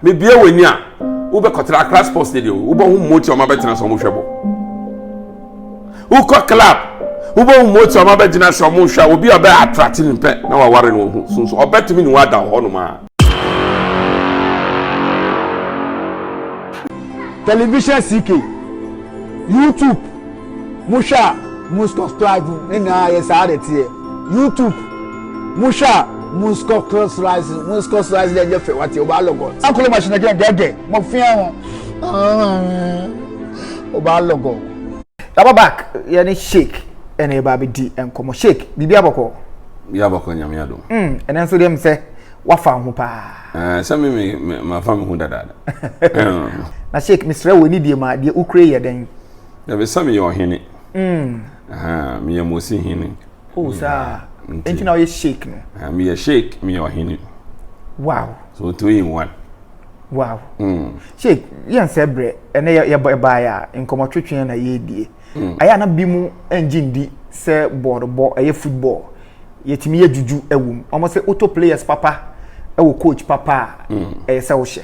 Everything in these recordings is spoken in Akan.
Mebue w'ani a, wobɛkɔtra Accra Sports Stadium, wobɛhu mmotie a wɔabɛtena sɛ wɔhwɛ bɔ. Wokɔ club, wobɛhu mmotie a wɔabɛgyina sɛ wɔhwɛ a obi a ɔbɛ attract no pɛ na waware no ho so nso ɔbɛtumi ne wo ada wɔ hɔnom a. Television CK, YouTube. Mohwɛ a Muskoklive ne nyinaa yɛ saa de teɛ. YouTube Mohwɛ a Muskoklive Muskoklive dɛ nyɛ fɛ wate ɔbaa lɔgɔ. Akolo ma hyɛnɛ kɛn dɛdɛ mo fia ho. Ɔbaa lɔgɔ. Laba back yɛ ne shake ɛna yɛ ba bɛ di nkɔmɔ shake biribi abɔkɔ. Biribi abɔkɔ nyame yɛ dom. Mm ɛnɛ nso deɛ mi sɛ wafa ho paa. Ɛɛ eh, sɛ mi mi ma fa mi ho dadaada. Na shake mi srɛ wo ɛni deɛ ma deɛ ukure yɛ dɛn. Na bɛ sɛ meyɛ ɔhene. Mm. Meyɛ Mosi hene. Oh, saa. Nti na ɔyɛ sheik no. Meyɛ sheik, meyɛ ɔhene. Wow. So two in one. Wow. Mm. Sheik, yɛn sɛ brɛ, ɛnɛ yɛ yɛ baayɛ a nkɔmɔ twetwe na yɛ die. Mm. Ayɛ na bi mu ɛngye ndi sɛ bɔɔl bɔ ɛyɛ football. Yɛtumi yɛ juju ɛwom. Wɔn sɛ auto players papa ɛwɔ coach papa a mm. ɛyɛ sɛ wohyɛ.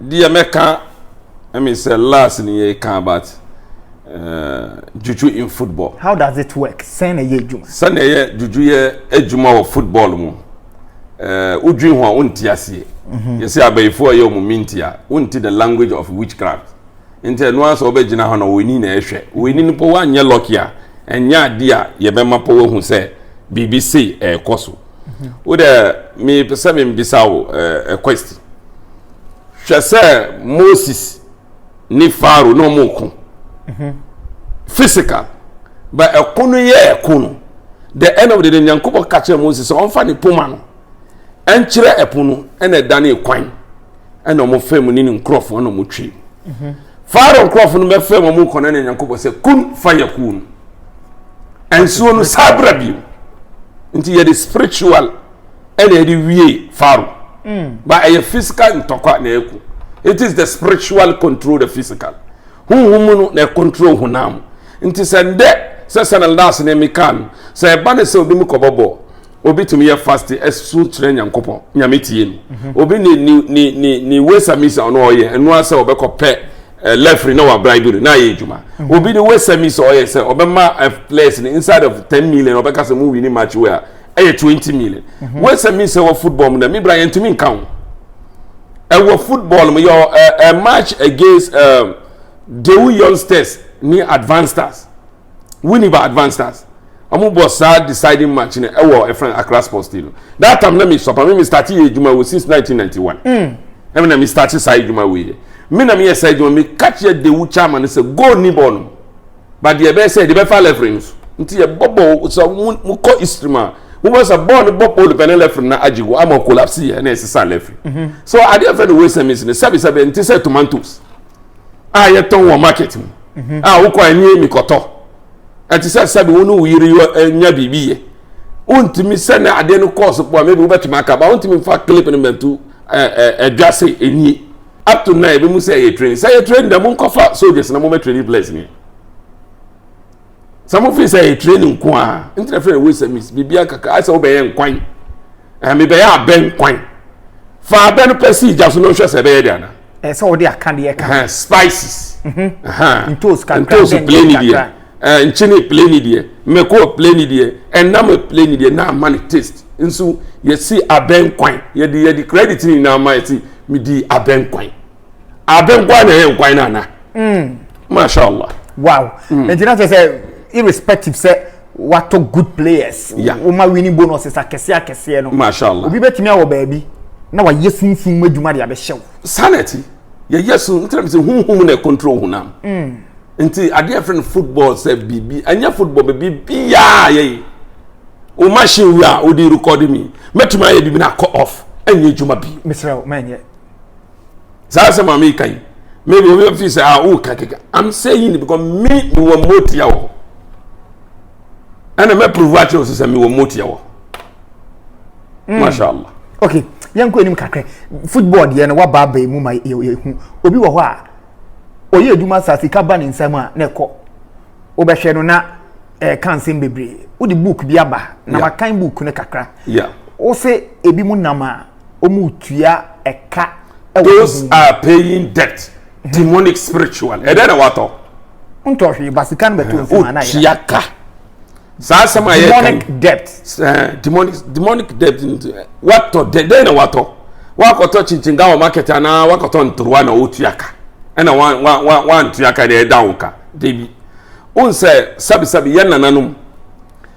Deɛ mɛka ɛmi sɛ last ni yɛ ka about uh, juju in football. How does it work? Sɛn na ɛyɛ adwuma? Sɛn na ɛyɛ juju yɛ adwuma wɔ football mu. Uh, wodwi ho a wonti aseɛ. Mhm. Yɛsɛ abayifoɔ a ɛyɛ ɔmo minti a wonti the language of witchcraft. Nti ɛno ara sɛ ɔbɛgyina hɔ na wɔni na ɛhwɛ. Wɔni no pɔ wɔanyɛ lɔki a ɛnyɛ adeɛ a yɛbɛma pɔ wɔahu sɛ biribi sei ɛrekɔ so. wo dɛ mepɛ sɛ membisa wo eh, a question hwɛ sɛ moses ne faro na ɔmo ko mhm. physical ba ɛko no yɛ ɛko no the end of the day nyankopɔn ka kyerɛ moses sɛ ɔmfa ne poma no ɛnkyerɛ ɛpo no ɛna ɛda ne kwan ɛna wɔn fɛn mu ne ne nkurɔfoɔ ɛna wɔn twɛ mhm. faaro nkurɔfoɔ no bɛ fɛn mu wɔn kɔnɛ ne nyankopɔ sɛ kun fa yɛ kun nsuo no saa abira bi nti yɛ de spiritual ɛna yɛ de wie faaro mm. ba ɛyɛ physical ntɔkwa na yɛ ku it is the spiritual control the physical huhun mu no na yɛ control honam nti sɛ ndɛ sɛ sɛ na laas ne mi kaa no sɛ ɛba ne sɛ obi mu kɔ bɔ bɔɔl. obi tumi yɛ fast ɛso kyerɛ nyankopɔn nyame tie no mhm. obi ne ne ne ne ne wesa misa ɔno ɔyɛ ɛno asɛ ɔbɛkɔ pɛ eh, lefri na wa bribery na ayɛ adwuma mhm. obi ne wesa misa ɔyɛ sɛ ɔbɛma eh, players no inside of ten million ɔbɛka sɛ mo wini match wei a ɛyɛ twenty million mhm. wesa misa wɔ football mu na mi bra yɛn ntumi nka ho ɛwɔ football mu yɛ ɛ eh, match against dewu youngsters ne advanced stars. Winneba Advanced Stars. Wɔn bɔ saa deciding match no ɛwɔ ɛfɛn e Accra Sports Stadium. no. That time na mi sɔpa mi mi start yɛ adwuma wɔ since 1991. Mm. Ɛmi na mi start saa adwuma wɔ yɛ. Mi na mi yɛ saa adwuma mi catch yɛ dewu chama no sɛ goal ni bɔɔl no. But deɛ ɛbɛyɛ sɛ ɛde bɛfa lefre no so. Nti yɛ bɔ bɔɔl sɛ mo mo kɔ history mu a. Mo bɔ sɛ bɔɔl no bɔ pole pɛ ne lefre na agye go ama collapse yɛ na ɛsesa lefre. Mhm. So adeɛ fɛ no wei sɛ mi si no sɛbi sɛbi nti sɛ tomatoes. a yɛtɔn wɔ market mu mhm. a wokɔ ani ani kɔtɔ ɛte sɛ sɛbi wo ne wo yere eh, nya biribi yɛ wontumi sɛ ne adeɛ no kɔɔso pɔ a maybe wobɛtumi aka ba wontumi fa clip no mantu ɛdwa se ɛnie up to now ebi mu sɛ yɛ train sɛ yɛ train dɛ mo nkɔfa soldiers na mo bɛ train players ni sɛ mo fi sɛ yɛ train nko a n tẹ̀lé fẹ́ wei sɛ miss biribi akaka ayɛ sɛ wobɛ yɛ nkwan ɛmi bɛ yɛ abɛ nkwan fa abɛ no pɛ si ìjà so na ohwɛ sɛ ɛbɛ yɛ di ana. ɛɛ sɛ wɔde aka deɛ ka ho spices mhm. ntoos kakra ntoos plane deɛ ɛɛ nkyene plane deɛ mɛko plane deɛ ɛnam plane deɛ na ama ne taste nso yɛsi abɛnkwan yɛde yɛde credit ne nyinaa ma yɛsi mi di abɛnkwan abɛnkwan na ɛyɛ nkwan na ana mm. masha allah. wow ɛgyina mm. kyerɛ sɛ irrespective sɛ. watɔ good players woma winning bonuses akɛseɛ akɛseɛ no mashallah obi bɛtumi awɔ baabi na wayɛ sunsum mu adwuma de abɛhyɛ wo saa na ɛte yɛyɛ so ntina bi sɛ honhom na ɛcontrol honam mm. nti adeɛ fɛ no football sɛ biribi ɛnyɛ football baabi biaa yɛyi wo machine wi a wode rekɔde mi mɛtumi ayɛ biribi na akɔ off ɛnyɛ adwuma bi mesrɛ wo mɛnyɛ saa asɛm a meka yi maybe obi bɛfi sɛ a woka keka i'm saying because me mewɔ mmotia wɔ hɔ ɛna mɛprovu akyerɛ wo sɛ mewɔ mmotia wɔ hɔ masha allah okay yɛnkɔ anim kakra football deɛ no waba aba mu ma yɛhu obi wɔ hɔ a ɔyɛ adwuma saa sika ba ne nsam a na ɛkɔ wobɛhwɛ no na ɛka eh, nsɛm bebree wode book bi aba na wakan book no kakra wo se ebi mu nam a wɔtua ɛka. those are paying debt demonic spiritual ɛdɛ na watɔ. ntɔ hwee ba sika no bɛtɔ nsɛm anayɛ. otua ka saa asɛm a yɛ kan demonic debt. ɛɛ demonic demonic debt watɔ dɛ dɛ na watɔ wakɔtɔ kyinkyin gawa market anaa wakɔtɔ ntoruwa na otua ka ɛna wa wa wa wantua ka na ɛda wo ka debi. n sɛ sabisabi yɛ nananom.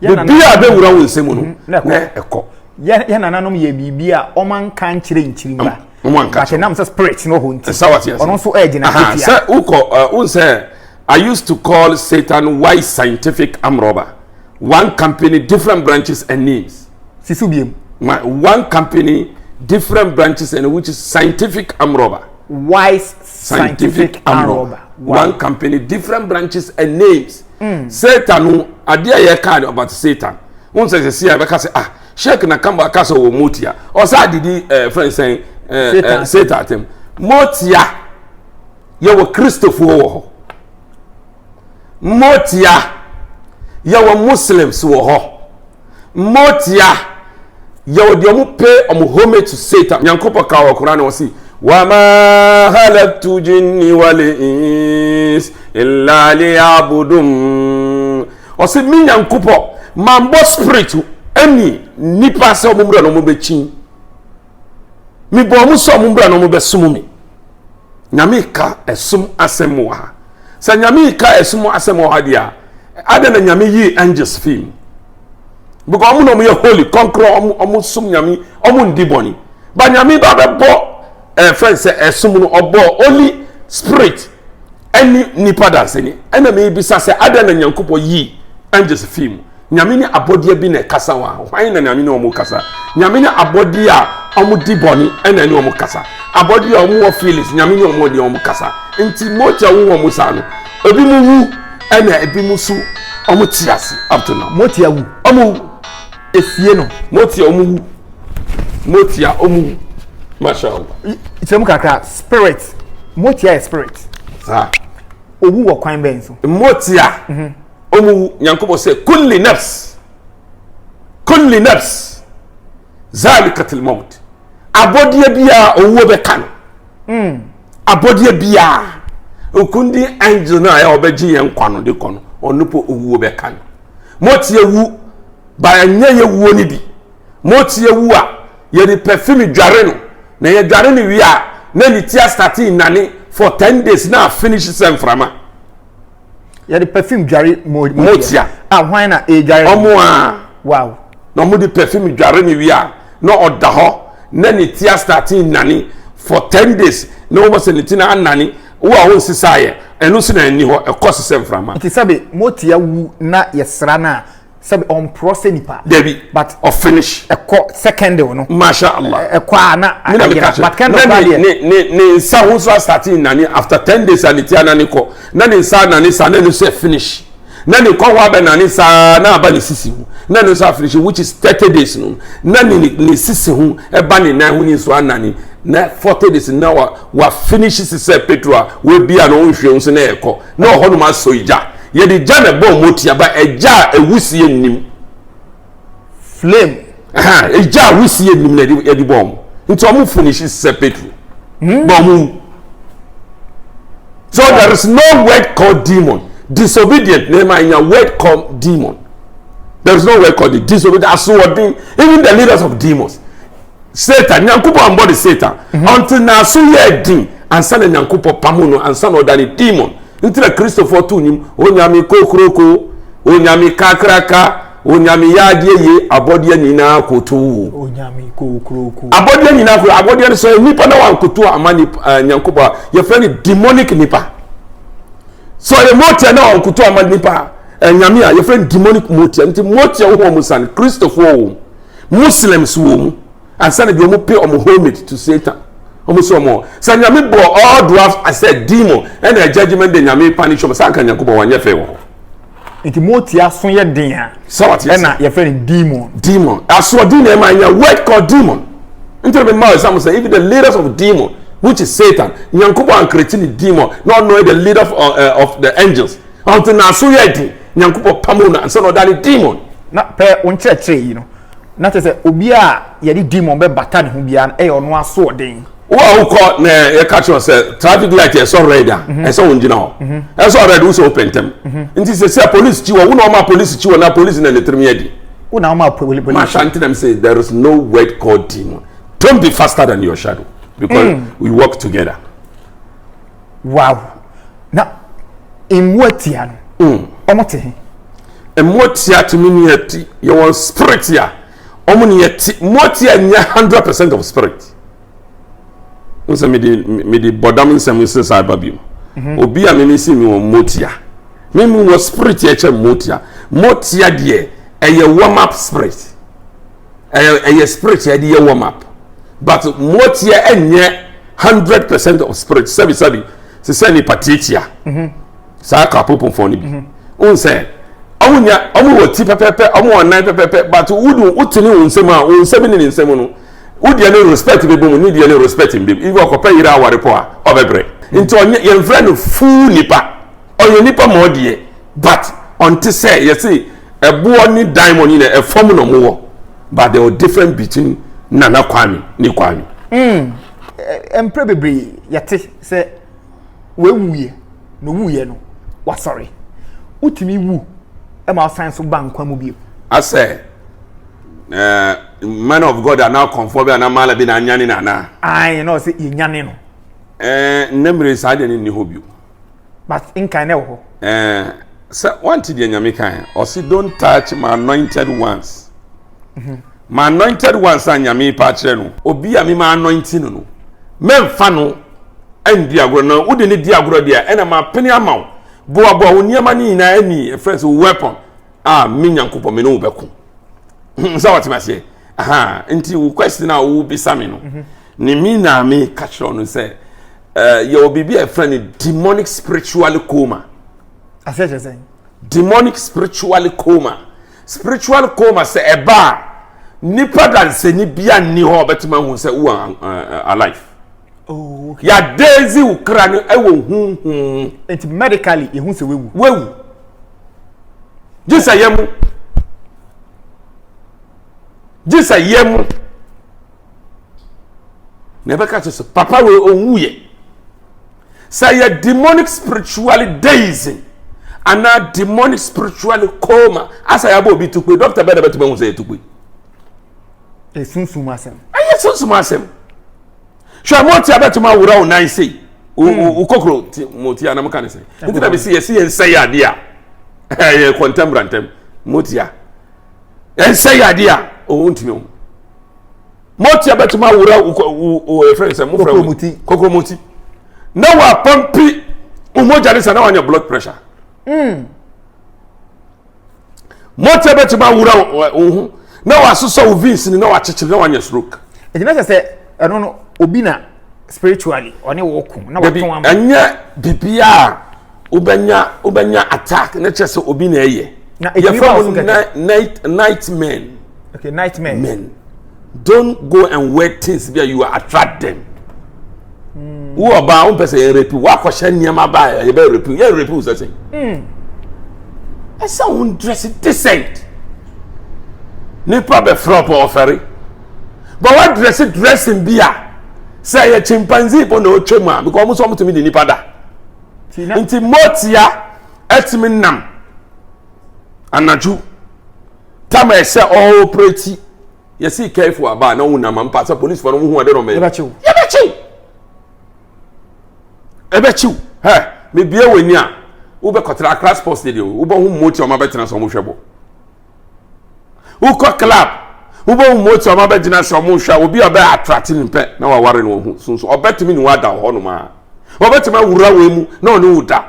biribi a bɛwura wo nsɛm no na ɛkɔ yɛ nananom yɛ biribi a ɔma nka nkyerɛ nkyiri ba bàtɛ nam sɛ spirit no hɔ nti ɔno nso ɛgyina nketewa sɛ wokɔ wo nsɛ I used to call Satan wise scientific arm robber one company different branches and names sisu biem one company different branches and which is scientific arm robber wise scientific, scientific arm robber one company different branches and names Mm. Satan no adeɛ a yɛka no about Satan. Won sɛ sɛ si a bɛka sɛ ah Sheikh na kamba ka sɛ wɔ motia. Ɔsa didi eh, friend sɛn eh, eh, Satan atem. Motia yɛwɔ Kristofoɔ wɔ hɔ. Motia yɛwɔ Muslims wɔ hɔ. Motia yɛ ɔde ɔmo pay ɔmo homage to Satan. Nyankopɔ ka wɔ Koran wɔ si. Wama halaktu jinni wal ins illa liyabudum. Ɔsi mi Nyankopɔ mambɔ spirit ɛni nipa sɛ ɔmo mura na ɔmo bɛkyin. Mi bɔ ɔmo sɛ ɔmo mura na ɔmo bɛsom mi. nyame ka ɛsom asɛm wɔ ha sɛ nyame ka ɛsom asɛm wɔ ha deɛ a adɛn na nyame yii angels fii mu because ɔmo na ɔmo yɛ holy kɔnkorɔ ɔmo ɔmo som nyame ɔmo ndi bɔne ba nyame ba bɛbɔ ɛɛ eh, fɛn sɛ ɛsom no ɔbɔ holy spirit ɛne nipa danseni ɛna mi bisa sɛ adɛn na nyankopɔ yii angels fii mu Nyame ne abɔdeɛ bi na ɛkasa wa hwan na Nyame ne wɔn kasa Nyame ne abɔdeɛ a wɔn di bɔne ɛna ne wɔn kasa abɔdeɛ a wɔn wɔ feelings Nyame ne wɔn deɛ wɔn kasa nti mogya wo wɔn saa no ebi mu wu ɛna ebi mu so wɔn te ase up to now motia wu wɔn wu efie no motia wɔn wu motia wɔn wu masha Allah kyerɛ mu kakra spirit motia yɛ spirit saa owu wɔ kwan bɛn so motia. Mm -hmm. Ɔmu Nyankopɔn sɛ, Kulli nafs, kulli nafs, zalikatil mawt. Abɔdeɛ biara owuo bɛka no. Hmm. Abɔdeɛ biara, okundi angel no a ɛyɛ ɔbɛgye yɛn nkwa no de kɔ no, ɔno po owuo bɛka no. Motie wu, ba ɛnyɛ yɛ wuo no bi. Motie wu a, yɛde perfume dware no, na yɛdware no wie a, na ne ti astate nnane for ten days na finish sɛ mframa. yɛde perfume dware motia a hwan na ɛdware ɔmo a wow na ɔmo de perfume dware ne wie a na ɔda hɔ na ne ti astate nnane for ten days na wɔbɔ sɛ ne ti na anane wo a wonsesaeɛ ɛno nso na ɛni hɔ ɛkɔ sesɛ mframa nti sɛbe motia wu na yɛsra no a sɛbi ɔmporɔ sɛ nipa. dabi but ɔfinish. ɛkɔ secondary no. masha allah ɛkɔ a na ayira but kɛndɛ kura deɛ. ne ne ne nsa ho nso asate nane after ten days a ne ti anane kɔ na ne nsa anane saa na ne nso finish na ne kɔn ho abɛ nane saa na aba ne sisi ho na ne nso afinish which is thirty days no na ne ne sisi ho ɛba ne nan ho ne nso anane na forty days na wa wa finish sisɛ petro a wabia na ɔnhwɛ ho so na ɛkɔ na ɔhɔ nom asɔ egya. Yɛde gya na ɛbɔ wɔn otia ba ɛgya a ewusie nnim. Flame. Ɛgya a wusie nnim na yɛde bɔ wɔn nti wɔn finishi sɛ petro. Hmm. Bɔ wɔn wu. So there is no word called demon. Disobedient na ɛma nya word called demon. There is no word called disobedient. Asoɔden even the leaders of demons. Satan, Nyankopɔn ambɔ ne Satan mhm. until n'aso yɛ den ansa na Nyankopɔn pamo no ansa na ɔda ne demon. Nti na Kristofoɔ to nyim onyame kokuroko, onyame kakraka, onyame yɛ adeɛ yie abɔdeɛ nyinaa koto abɔdeɛ nyinaa koto abɔdeɛ no sɛ nipa na wankoto ama eh, nyankopɔn a yɛfrɛ no demonic nipa sɛ ɔyɛ motia na wankoto ama nipa eh, nyame a yɛfrɛ no demonic motia nti motia wo hɔ mu sane kristofoɔ wɔ mu muslims wɔ mu ansa na bi wɔn pay wɔn homage to satan wɔn sɛ wɔn sɛ nyame bɔ all dwarfs asɛ demon ɛna eh, judgement de nyame punish wɔn sanka nyanko bɔ wɔn nyɛ fɛ wɔ hɔ. nti mo ti aso yɛ den a ɛna yɛfrɛ no demon. demon asoɔden na ɛma nya word called demon nti na mi ma ɛsɛ mo sɛ even the leaders of demon which is satan nyanko bɔ ankirikyi ni demon na ɔno yɛ the leader of, uh, uh, of the angels ɔnti na aso yɛ den. nyankopɔn pamoo no ansa na ɔda ne demon na pɛ wo nkyerɛkyerɛ yi no na kyerɛ sɛ obi a yɛde demon bɛbata ne ho biara no ɛyɛ ɔno asoɔden wo a wokɔ na yɛka kyerɛ sɛ traffic light ɛsɔ red a mhm. ɛsɛ wo ngyina hɔ mhm. ɛsɔ red wo sɛ wopɛ ntɛm mhm. nti sɛ sɛ police kyi wɔ wo na ɔma police kyi wɔ na police na ne tirim yɛ di wo na ɔma police mahyɛ ntenam sɛ there is no word called demon don't be faster than your shadow because mm. we work together wow na mmoa tia no mm. ɔmo te he mmoa tia tumi ni ɛti yɛ wɔn spirit a ɔmo ni ɛti mmoa tia nyɛ hundred percent of spirit n sɛ mede mede bɔdam nsɛm sɛ saa ba bi mu mhm. obi a mimi si mi wɔn mmoa tia mimi wɔ spirit yɛ kyɛ mmoa tia mmoa tia deɛ ɛyɛ warm up spirit. ɛyɛ ɛyɛ spirit yɛde yɛ warm up but mmoatia ɛnyɛ hundred percent of spirit sɛbi sɛbi te sɛ nipa tiatia mhm. saa kapoponfoɔ no bi mhm. n sɛ ɔmo nya ɔmo wɔ ti pɛpɛpɛ ɔmo wɔ nan pɛpɛpɛ but wodu wotene wɔn nsam a wɔn nsam ne ne nsam no wodeɛ ne respect bɛ bɔ mu ne deɛ ne respect bɛ mu ibi ɔkɔpɛ yere aware pɔ a ɔbɛbrɛ nti ɔnyɛ yɛn fira no fuu nipa ɔyɛ nipa ma ɔdeɛ but ɔnte sɛ yɛsi. Ɛboɔ ne dan mɔ nyina ɛfam na ɔmo wɔ but there was different between Nana Kwame ne Kwame. Mm, mprɛ bebree yɛte sɛ wɔawuiɛ na owuiɛ no wasɔre. Wotumi wu ma ɔsan so ba nkwa mu bio. Asɛ uh, man of God anaa kɔnfoɔ bi anaa maala bi na anyane no anaa? Ae na ɔsɛ yɛnyane no. Eh, nnɛ mmere saa deɛ no nni hɔ bio. but nkan na ɛwɔ hɔ. ɛɛ eh, sɛ wante deɛ nyame kan ɔsi don't touch my anointed ones mhm. my anointed ones a nyame pa akyerɛ no obi a mema anointi no no mɛmfa no ɛndi agorɔ na wode ne di agorɔ deɛ ɛna ma pene ama wo boaboa wo nneɛma no nyinaa ani ɛfrɛ sɛ weapon a me nyankopɔn me ne wo bɛko sɛ wɔte aseɛ aha nti wo question a wobisa me no mhm. ne me na me ka kyerɛ no sɛ eh, yɛwɔ biribi a ɛfrɛ no demonic spiritual coma asɛ kyerɛ sɛ demonic spiritual coma spiritual coma sɛ ɛba a nipa dansani bia nni hɔ ɔbɛtumi ahu sɛ wo eh, eh, alive oh, yɛadezi wo kra no ɛwɔ huhu nti medically yɛhu sɛ wawu wawu gye sɛ yɛ mu gye sɛ yɛ mu na ɛbɛka kyerɛ sɛ papa wei ɔwuiɛ sɛ yɛ demonic spiritually deism anaa demonic spiritually coma asɛ yɛabɔ obi tukpe dɔkta bɛɛ na bɛtumi ahu sɛ yɛ tukpe ɛsunsum asɛm ɛyɛ sunsum asɛm hwɛ mo ti abɛtumi awura wo nan sei wo hmm. kokoro ti mo ti anam ka ne sɛ nti na mesi yɛsi yɛn nsɛ yɛ adeɛ a ɛyɛ kɔntɛm brantɛm mo ti a yɛn nsɛ yɛ adeɛ a ɔwɔ ntumi o mo ti abɛtumi awura wo wo wo efirɛ nsɛm mo fira wo kokoro mo ti na wa pampi wo mogya ne sa na wa nya blood pressure. Mm. mɔtɛ bɛtumi awura wo ho na wasosɔ wo veins ni na wakyekyere na wanya stroke. ɛti na sɛ sɛ ɛno no obi na spiritually ɔne wɔ ko na wɔtɔn ama. ɛnyɛ bibi a wobɛnya wobɛnya attack ne kyɛ sɛ obi na ɛyɛ. na ɛtumi ba so kɛkɛ. yɛfɛ mo night men. okay night men. men. Don't go and wear things bi a you attract them. Hmm. Wo ɔbaa wo mpɛ sɛ yɛn repi wakɔhyɛ nneɛma ba a yɛbɛ repi yɛn repi wo sɛ sɛn. Hmm. Ɛsɛ wo dress decent. Nipa bɛ frɛ ɔpɔ ɔfɛre. But wa dress dressing bi a sɛ yɛ chimpanzee bɔ na ɔtwa mu a because ɔmo sɛ ɔmo tumi di nipa da. Nti motia ɛtumi nam anadwo. Tam a ɛsɛ ɔɔprɛti yɛsi kɛɛfo aba a na wonam ampa sɛ polisifo no wohu ade no mɛ yɛbɛkyew yɛbɛkyew ɛbɛkyew hɛ mebie w'ani a wobɛkɔtena akra sports stadium wobɛhu mmoti ɔma bɛtena sɛ ɔmohwɛ bɔ wokɔ club wobɛhu mmoti ɔma bɛgyina sɛ ɔmohwɛ obi a ɔbɛ atrate ne mpɛ na waware no ɔhu sunso ɔbɛtumi ne wada hɔ nom a wɔbɛtumi awura wei mu na ɔne wo da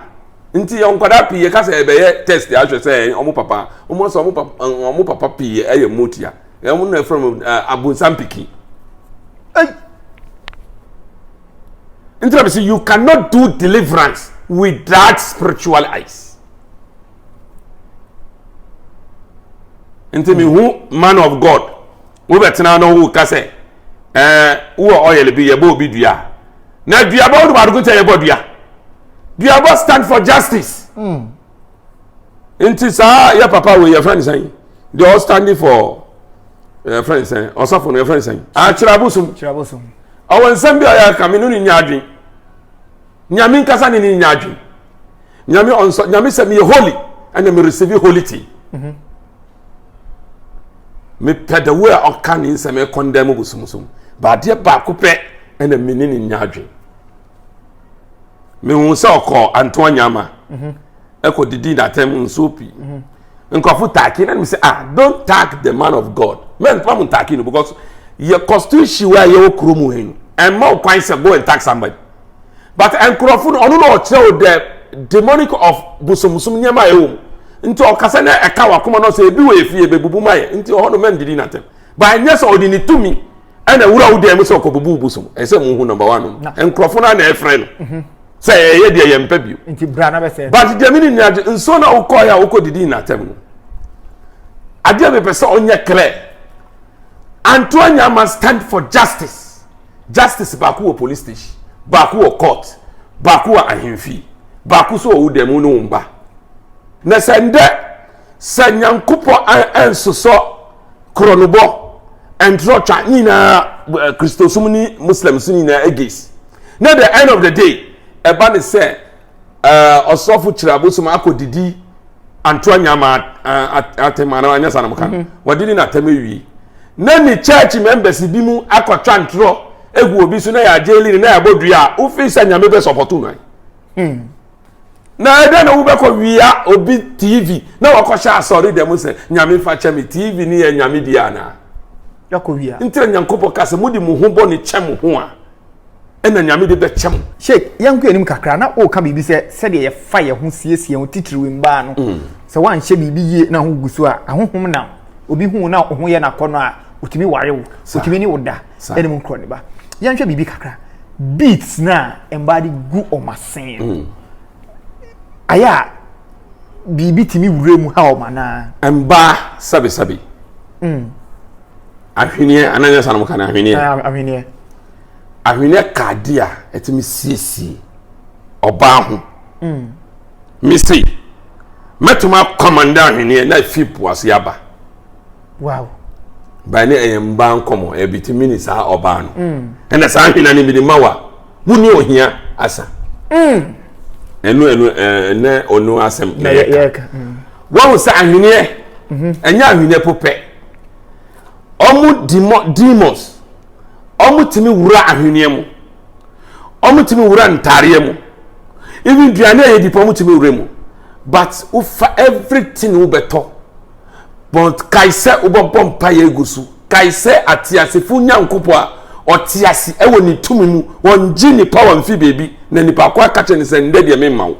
nti yɛ nkwadaa pii yɛka sɛ ɛbɛyɛ test ahwɛ sɛ wɔn papa wɔn sɛ wɔn papa wɔn papa pii ɛyɛ motia wɔn na ɛfrɛ wɔn abonsam piki ɛyi nti na bɛ sɛ you cannot do deliverance without spiritual eyes. nti mehu man of god Wobɛtena hɔ na woreka sɛ, ɛɛ, wowɔ oil bi, yɛbɔ obi dua. Na duabɔ, wonim ade ko nti a yɛbɔ dua? Duabɔ stand for justice. Mm. Nti saa yɛ papa wei yɛfrɛ no sɛn? Deɛ ɔstande for yɛfrɛ no sɛn? Ɔsɔfo no yɛfrɛ no sɛn? Akyerɛ abosom. Kyerɛ abosom. Ɔwɔ nsɛm bi a ɔyɛ ka me no ne nya adwen. Nyame nkasa ne ne nya adwen. Nyame ɔnsɔ, nyame sɛ meyɛ holy, ɛna me receive holy tea. Mm -hmm. mepɛ the way a ɔka ne nsɛm ɛkɔndan mu bosomsom baadeɛ baako pɛ ɛna me ne ne nya adwen mehu sɛ ɔkɔ antoa nyama mhm. ɛkɔ didi n'atɛm nsuo pii mhm. nkurɔfo taaki na ne sɛ ah don't tag the man of god mɛn fam ntaaki no because yɛ constitution wa yɛ wɔ kurom hɛn ɛmma ɔkwan sɛ go and tag somebody. but nkurɔfo no ɔno na ɔkyerɛ o the demonic of bosomsom nneɛma a ɛwɔ mu nti ɔkasa na ɛka wakoma no sɛ ebi wɔ efie bebubu ma yɛ nti ɔhɔ no mɛn didi n'atɛm ba nyɛ sɛ ɔde ne tumi ɛna wura wo dan mu sɛ ɔkɔ bubu bosom ɛsɛ mu hu number one no nkurɔfo no na ɛfrɛ no mhm. sɛ ɛyɛ deɛ yɛn mpɛ bio nti bra na bɛ sɛ but deɛ mi ni nyina de nsuo na okɔ yɛ a okɔ didi n'atɛm no adeɛ mi pɛ sɛ ɔnyɛ clear antoanya must stand for justice. Justice baako wɔ police station, baako wɔ court, baako wɔ ahemfie, baako nso wɔ wo dan mu ne wo mba. Na sɛ ndɛ sɛ Nyankopɔn ɛnsosɔ koronobɔ, ntorɔtwa ne nyinaa Christosom ne Muslims ne nyinaa against. Na the end of the day ɛba ne sɛ eh, ɔsɔfo kyerɛ abosom akɔdidi anto anyama atɛm anaa anyɛ sa na moka no wɔde ne natɛm awie na ne church members bi mu akɔtwa ntorɔ egu obi so na yɛ agyeli ne na yɛ abɔ dua a wofii sɛ nyame bɛ sɔpɔto no hmm. na ɛdɛ na wobɛkɔ wia obi tv na wɔkɔhyɛ asɔre dɛm sɛ nyame fa kyɛ me tv ne yɛ nyame bi anaa nti na nyankopɔn ka sɛ mode mo ho bɔ ne kyɛ mo ho a na Nyame de bɛkyɛ mo. Sheikh, yɛnkɔ anim kakra, na woka biribi sɛ sɛdeɛ yɛfa yɛn ho siesie yɛn ho titiriw mmaa no, mm. sɛ woanhyɛ biribi yie na ho gu so a, ahohom nam. Obi hu na wo ho yɛ no akɔnnɔ a, otumi ware wo, otumi ne wo da, ɛne mu nkorɔ ne ba. Yɛnhwɛ biribi kakra. Beats no a mmaa de gu wɔn asen no, mm. ayɛ a biribi tumi wura mu ha wɔn anaa? Mmaa, sabi sabi. Mm. ahweneɛ ananyɛ sa nom ka no ahweneɛ ahweneɛ ahweneɛ ka ade a ɛtumi siesie ɔbaa ho mm. me sei mɛtumi akɔmanda ahweneɛ na afi poase aba wow baa ne ɛyɛ mbaa nkɔmmɔ ɛbitumi ne saa ɔbaa no mm. ɛna saa ahwena no bi ne ma wa wo ne ohia asa mm. ɛno ɛno ɛnɛ ɔno asɛm na yɛka wɔn sɛ ahweneɛ mm-hmm. ɛnyɛ ahweneɛ popɛ wɔn demo demons wɔtumi wura ahweneɛ mu wɔtumi wura ntaareɛ mu even duane a yɛdi pa wɔtumi wura mu but wofa everything wobɛtɔ but kae sɛ wobɛbɔ mpa yɛ egu so kae sɛ ateasefo nyankopɔ a ɔte ase ɛwɔ ne tumi mu wɔngye nipa wɔn fi beebi na nipa ko akakyɛ ne sɛ ndɛ deɛ memma wo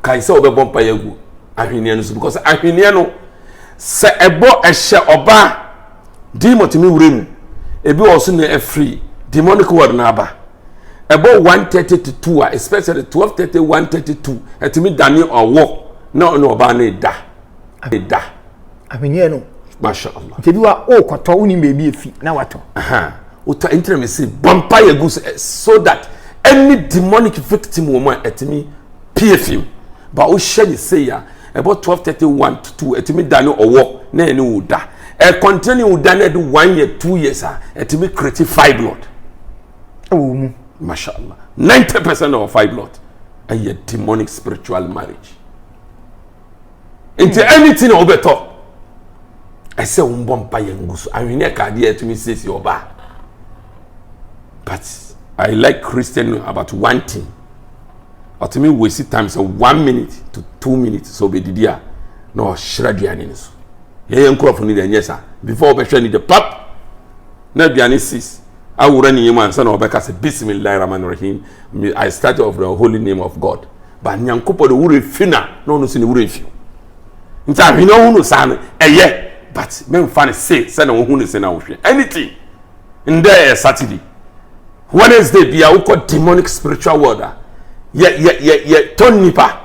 kae sɛ wɔbɛbɔ mpa yɛ agu ahweneɛ no so because ahweneɛ no sɛ ɛbɔ ɛhyɛ ɔbaa demotumi wura mu ebi wɔ so na ɛfiri demonic world na aba ɛbɔ one thirty to two a especially twelve thirty one thirty two ɛtumi dane ɔwɔ na ɔne ɔbaa no da da. ahweneɛ no masha allah nti bi wa o kɔtɔ wo nim baabi efi na watɔ wotɔ ntina mi si bɔ mpa yɛ gu so eh, so that any demonic victim wɔ mu a ɛtumi pie fim ba wohyɛ ne sei a ɛbɔ twelve thirty one to two ɛtumi da ne ɔwɔ na ɛne wo da ɛkɔntene ne wo da na ɛde one year two years a ɛtumi kreti five blood ɛwɔ mu masha allah ninety percent of five blood ɛyɛ demonic spiritual marriage. nti hmm. anything na wobɛtɔ ɛsɛ wo mbɔ mpa yɛ ngu so ahweneɛ ka adeɛ atumi siesie ɔbaa but i like christian about one thing ɔtumi waste time sɛ one minute to two minutes sɛ ɔbɛdidi a na ɔhyerɛ aduane no so yɛyɛ nkurɔfo no deɛ ɛnyɛ saa before ɔbɛhwɛ no de pap na aduane sis awura ne yam ansa na ɔbɛka sɛ bisimilahi rahman rahim i start off the holy name of god Ba Nyankopɔn de wura fi na na ɔno nso ne wura fi nti ahwene ɔhu no saa no ɛyɛ but mɛmfa no se sɛ na ɔhu no se na ɔhwɛ anything ndɛ ɛyɛ Saturday Wednesday bia wokɔ demonic spiritual world a yɛ yɛ yɛ yɛ tɔn nipa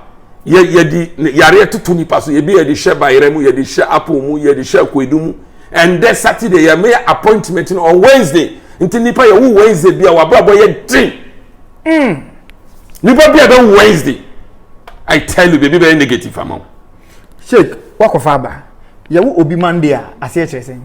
yɛ yɛ di yareɛ toto nipa so yɛbi yɛde hyɛ bayerɛ mu yɛde hyɛ apple mu yɛde hyɛ akoedu mu ɛndɛ Saturday yɛ meyɛ appointment no on Wednesday nti nipa yɛ wo Wednesday bia wabrabɔ yɛ den mm. nipa bi a bɛ wednesday i tell you baabi bɛyɛ negative ama wo. sheik wakɔfa aba yɛwo obi monday a aseɛ kyerɛ sɛn.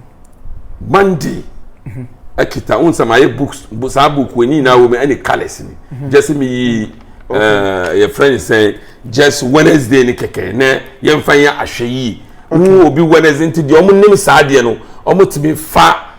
monday mhm. akita wo nsɛm ayɛ books saa book wɔ nyinaa wɔ mu ɛne colours ni mhm. just mi yi eh, yɛ friend sɛ just wednesday ni kɛkɛ nɛ yɛn fa yɛ ahwɛ yie wo obi wednesday nti deɛ ɔmo nim saa deɛ no ɔmo tumi fa.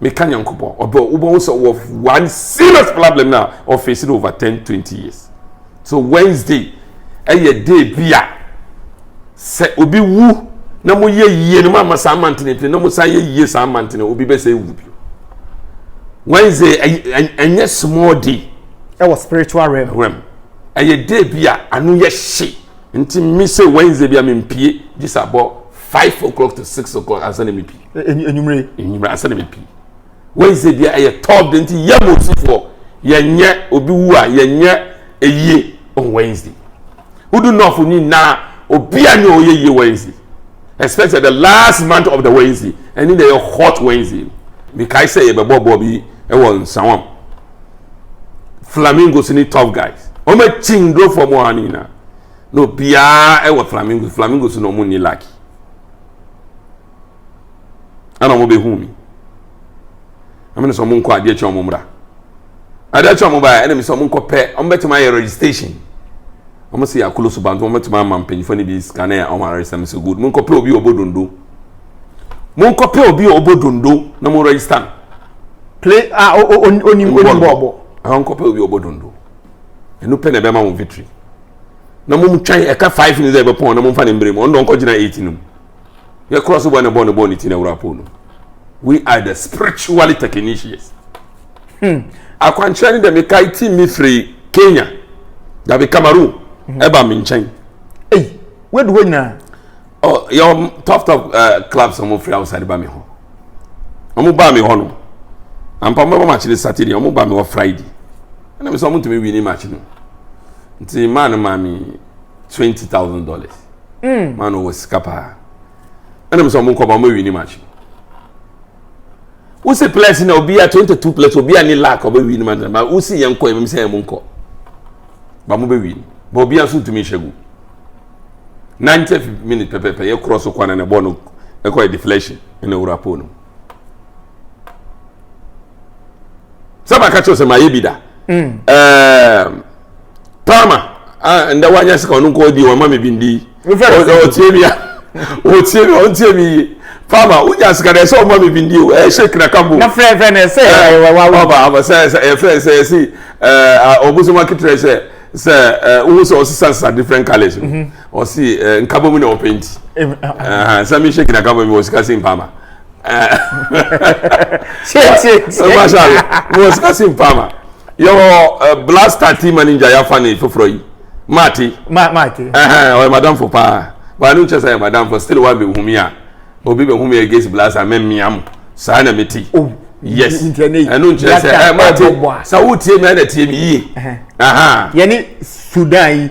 meka nyankopɔn ɔbɛ wobɛhu sɛ wɔ one serious problem na ɔfɛsi no over 10 20 years so wednesday ɛyɛ day bi a sɛ obi wu na mo yɛ yie no mama saa mantene pene na mo san yɛ yie saa mantene obi bɛ sɛ ewu bi wednesday ɛnyɛ small day ɛwɔ spiritual realm realm ɛyɛ day bi a ano yɛ hye nti mi sɛ wednesday bi a mi mpie gye sɛ abɔ five o'clock to six o'clock ansa na mi pie. enyimire. enyimire ansa na mepi wednesday deɛ ɛyɛ top de nti yɛ mosifoɔ yɛnyɛ obi wu a yɛnyɛ eyie on wednesday wodu nɔfo nyinaa obi a nyɛ ɔyɛ yie wednesday especially the last month of the wednesday ɛne na ɛyɛ hot wednesday mekae sɛ yɛbɛbɔ bɔɔ bi ɛwɔ nsawam flamingos ne top guys wɔn akyi ndorofoɔ mu ɔha no nyinaa na obiara ɛwɔ flamingos flamingos na wɔn ni lucky. ɛna wɔn bɛhu mi ɛmu ne sɛ wɔn nkɔ adeɛ kyɛ wɔn mmra adeɛ kyɛ wɔn baeɛ ɛna mi sɛ wɔn nkɔ pɛ wɔn bɛtumi ayɛ registration wɔn sɛ yɛ akolo so bantu wɔn bɛtumi ama mpanyinfoɔ no bi sika na yɛ wɔn aresa mi sɛ good mo nkɔ pɛ obi ɔbɔ dondo mo nkɔ pɛ obi ɔbɔ dondo na mo register no play a onim onim bɔɔlbɔ ɛhɔn kɔpɛ obi ɔbɔ dondo ɛnu pɛ na ɛbɛma mo victory na mo twɛn ɛka five ne sɛ ɛbɛpɔn na mo nfa ne mbere mu ɔno dɔn kɔgyina eight no mu Yɛ kura so bɔ ne bɔ ne bɔ ne ti na wura po no. We are the spiritually technicians. Hmm. Akwankyerɛ ne dɛ me kae ti mi firi Kenya. Dabi Cameroon. Hmm. Ɛba me nkyɛn. Ei, wadu hɔ nyinaa. Oh, yɛ top top uh, clubs a wɔn firi outside ba mi hɔ. Wɔn ba mi hɔ no. Ampa wɔn bɛ bɔ match ne Saturday, wɔn ba mi hɔ Friday. Ɛna mi sɛ wɔn ntumi win ne match no. Nti maa no maa mi. twenty thousand dollars mm. maa na ɔwɔ sika paa ɛna mo sɛ ɔmo nkɔba ɔmo awi ne match wosi players na obi a twenty two players obi a ne lack ɔbɛ wi ne match na wosi yɛn nkɔ ɛmɛ sɛ ɛmo nkɔ ba mo bɛ wi ne ba obi a nso ntumi nhyɛ gu ninety minute pɛpɛpɛ yɛ cross kwan na bɔɔl no ɛkɔ yɛ deflection ɛna ewura pole no. sɛ maka kyerɛ sɛ mayɛ bi da mm. ehm, palma ndɛ wanya sika ɔno nkɔ di wɔma me bi ndi ɔtie mi a ɔtie mi ɔntie mi yie palma wonya sika dɛ sɛ ɔma me bi ndi o ɛyɛ shake na kambo ɔba sɛ ɛfɛ sɛ ɛsi ɔbosoma eh, keterɛ sɛ sɛ eh, wohu sɛ ɔsesasesa different colors no mhm. ɔse eh, nkabɔ mu na ɔpɛ nti sɛ me shake na kambo mi wɔ sika se mpama wɔ sika si mpa ma yɛwɔ blaster team manager yɛafa ne foforɔ yi maate maate ɔyɛ madamfo paa baa no nkyɛ sɛ yɛ madamfo still wa bɛ humi a obi bɛ humi against blaster mɛmmea mo saa na mete oh, yes ɛno nkyerɛ sɛ eh, maate sɛ wotie me ɛna tie me yie yɛne sudan yi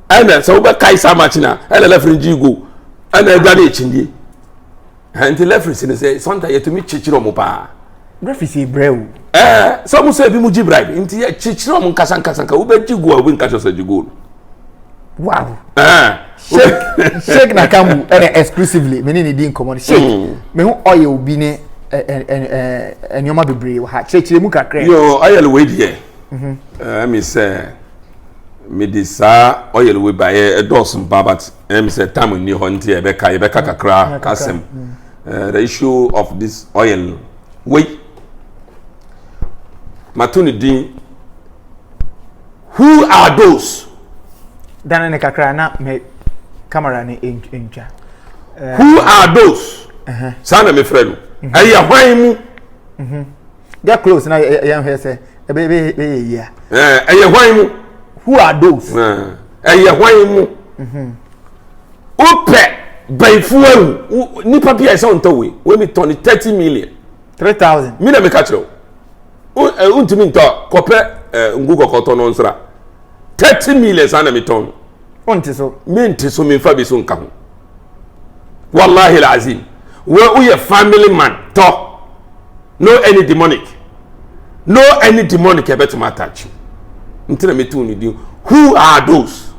ɛna sɛ wobɛkae saa match no a ɛna lɛfere gye go ɛna adwa ne akyindie nti lɛfere si no sɛ santa yɛtumi kyekyere ɔmo paa refi si brɛ o ɛɛ sɛ ɔmo sɛ ebi mu gye bribe nti yɛkyekyere ɔmo nkasa nkasa nka wobɛgye go a obi nka kyerɛ sɛ gye go no wow ɛɛ shake shake na kamu ɛna exclusively mene ne di nkɔmɔ no shake hmm. mehu ɔyɛ obi ne nneɛma bebree wɔ ha kyerɛkyerɛ mu kakra. yoo ayɛlɛ wei deɛ. Mm-hmm. Eh, me say, me di saa oil we ba ye eh, dɔɔso mpa but ɛna eh, me sɛ tam nni hɔ nti ɛbɛka eh, yɛbɛka kakra asɛm mm. the issue of this oil wei mato ne din who are those. dane ne kakra na me camera ne ntwa. who are those. Uh-huh. saa na mefrɛ no ɛyɛ hwan mu. Mm-hmm. get close na yɛn hwɛ sɛ ɛbɛ bɛ bɛ yɛ yia. ɛɛ ɛyɛ hwan mu. who are those. ɛyɛ hwan mu. Mhm. wopɛ bɛnfu awu nipa bi a ɛsɛ ɔntɔ wei wei mi tɔ ni thirty million. three thousand. mi na mi ka kyerɛ o o ntumi ntɔ kɔpɛ ɛɛ ngu kɔkɔ tɔ no nsira thirty million saa na mi tɔn. o nti so. mi nti so mi nfa bi so nka ho. wallahi alazim wei woyɛ family man tɔ no any demonic no any demonic ɛbɛtumi atakye nti na metu ne din who are those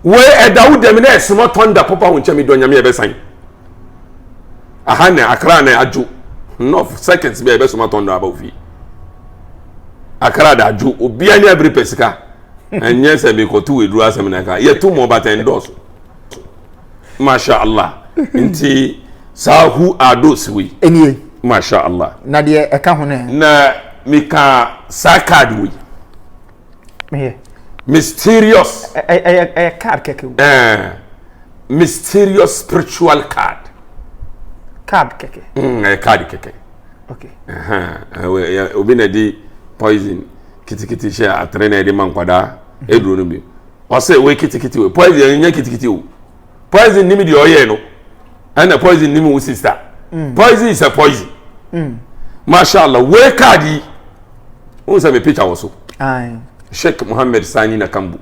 wei ɛda wo dɛm na ɛsomɔ tɔnda popa ho nkyɛn medɔ nyame ɛbɛsan aha na akra na adwo enough seconds bi a ɛbɛsoma tɔnda aba ofie akra da adwo obia ne abiri pɛ sika ɛnyɛ sɛ mekɔto wɔ aduru asɛm na ɛka yɛto mɔ batɛn dɔɔso masha allah nti saa who are those wei ɛnie masha allah na deɛ ɛka ho no na meka saa card wei meyɛ mysterious ɛyɛ card kɛkɛ ɛɛ mysterious spiritual card card kɛkɛ mm, ɛyɛ card kɛkɛ okay obi na di poison kitikiti hyɛ atere na ɛde ma nkwadaa ɛduro no bi ɔsɛ wei kitikiti wei poison yɛn nyɛ kitikiti o poison nim deɛ ɔyɛ no ɛna poison nim wo sista mm. poison is a poison mm. mashallah wei kaadi yi wọn sɛ mi picture wɔ so sheikh muhammed sani na kambu